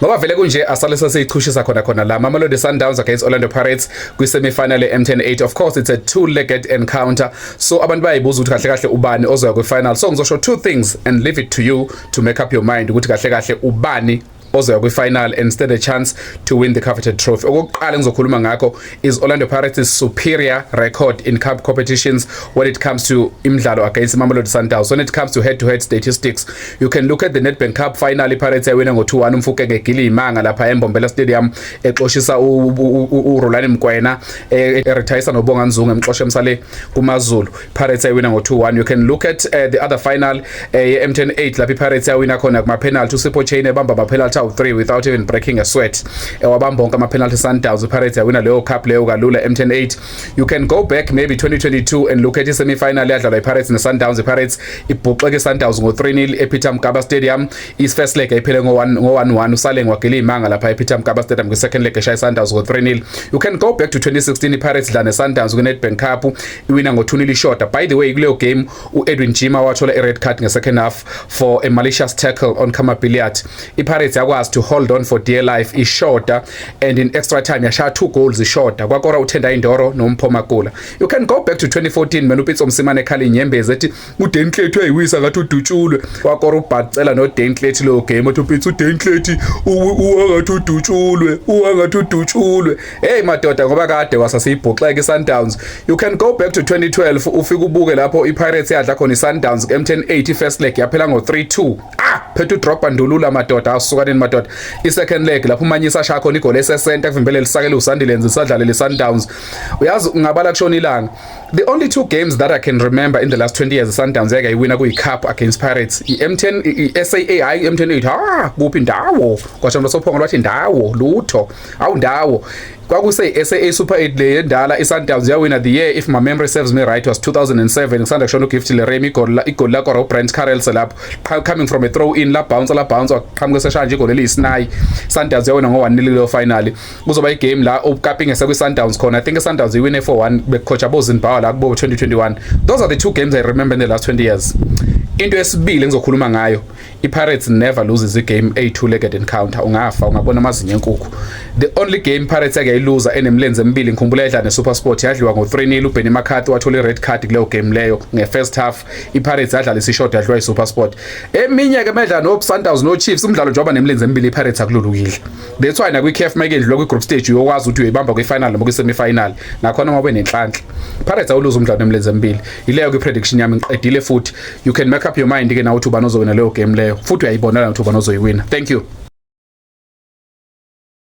Ngoba vele kunje asale sesiyichushisa khona khona la Mamelodi Sundowns against Orlando Pirates kwi semi final eMTN 8 of course it's a two legged encounter so abantu bayibuza ukuthi kahle kahle ubani ozoya kwi final so ngizosho two things and leave it to you to make up your mind ukuthi kahle kahle ubani ozoya kwi-final and stand a chance to win the coveted trophy okokuqala engizokhuluma ngakho is Orlando Pirates' superior record in cup competitions when it comes to imidlalo against Mamelodi Sundowns. When it comes to head-to-head statistics, you can look at the Nedbank Cup final iPirates yawina ngo-2-1 umfuke ngegili imanga lapha eMbombela Stadium exoshisa uRolani Mkwena e-retayisa noBonga Nzungu emxosha emsale kuMaZulu. Pirates ayiwina ngo-2-1 you can look at uh, the other final uh, ye-M10 8 lapho iPirates yawina khona kuma-penalty uSipho Chain ebamba ama-penalty awu-3 without even breaking a sweat ewabamba eh, onke ama-penalty Sundowns iPirates yawina leyo cup leyo kalula M10 8 you can go back maybe 2022 and look at i-semi-final yadlalwa iPirates ne-Sundowns iPirates ibhuxeke i-Sundowns ngo-3-0 ePeter Mkaba Stadium i-first leg ayiphele ngo-1-1 uSaleng wagila iy'manga lapha ePeter Mkaba Stadium kwi-second leg eshaya i-Sundowns ngo-3-0 you can go back to 2016 iPirates dla ne-Sundowns kwi-Nedbank Cup iwina ngo 2 nil ishoda by the way kuleyo game uEdwin Jima wathola i red card nge second half for a malicious tackle on Kama Billiat iPirates yakwazi to hold on for dear life ishoda and in extra time yashaya two goals ishoda kwakora uThenda Indoro noMpho Makula you can go back to 2014 menu Pitso Msimane khali inyembezi ethi uDenklethi uyayiwisa ngathi udutshulwe wakora ubhacela noDenklethi lo game othi upitsa uDenklethi uwangathi udutshulwe uwangathi udutshulwe hey madoda ngoba kade wasasiyibhoxeke iSundowns you can go back to 2012 ufike ubuke lapho iPirates yadla khona iSundowns kuMTN 80 first leg yaphela ngo3-2 ah phethu drop andulula madoda asukaneni madoda isecond leg lapho umanyisa shaya khona igoli esesenta kuvimbele lisakele uSandilenze sadlalele iSundowns uyazi ngabala kushona ilanga The only two games that I can remember in the last 20 years Sundowns yake iwina kuyi cup against Pirates iM10 iSAA iM10 ithi ha kuphi ndawo kwasho losophongo lwathi ndawo lutho awu ndawo kwakuse SA Super 8 le endala iSundowns yawina the year if my memory serves me right was 2007 ngisanda kushona uGift Leremi igoli igoli la kwa Brent Carrels lapho coming from a throw in la bounce la bounce waqhamuka seshanje igoli eliyisinayi Sundowns yawina ngo 1 nil lo finally kuzoba igame la ukapinge sekwi-sundowns khona i think i-sundowns iwine 4-1 bekukhotha bozinbawa la kubo 2021 those are the two games i remember in the last 20 years into esibili engizokhuluma ngayo i-pirates never loses igame eyi-two-legged encounter ungafa ungabona amazinyo enkukhu the only game pirates yake yayiluza enemilenze emibili ngikhumbula yadla nesupersport yadliwa ngo-three nil ubenny makhathi wathola i-red card kuleyo game leyo nge-first half i-pirates yadlala isishod yadliwa isupersport eminye-ke medla no-sundowns no-chiefs umdlalo njengoba nemilenze emibili i-pirates akululukile That's why nakwi-CAF uma ikedlula kwi-group stage uyokwazi ukuthi uyoyibamba kwi-final noma kwi-semi-final nakhona uma benenhlanhla Pirates awuluza umdlalo emlenze embili ileyo kwi-prediction yami ngiqedile futhi you can make up your mind ke nawe ukuthi ubani ozowina leyo game leyo futhi uyayibonela ukuthi ubani ozoyiwina thank you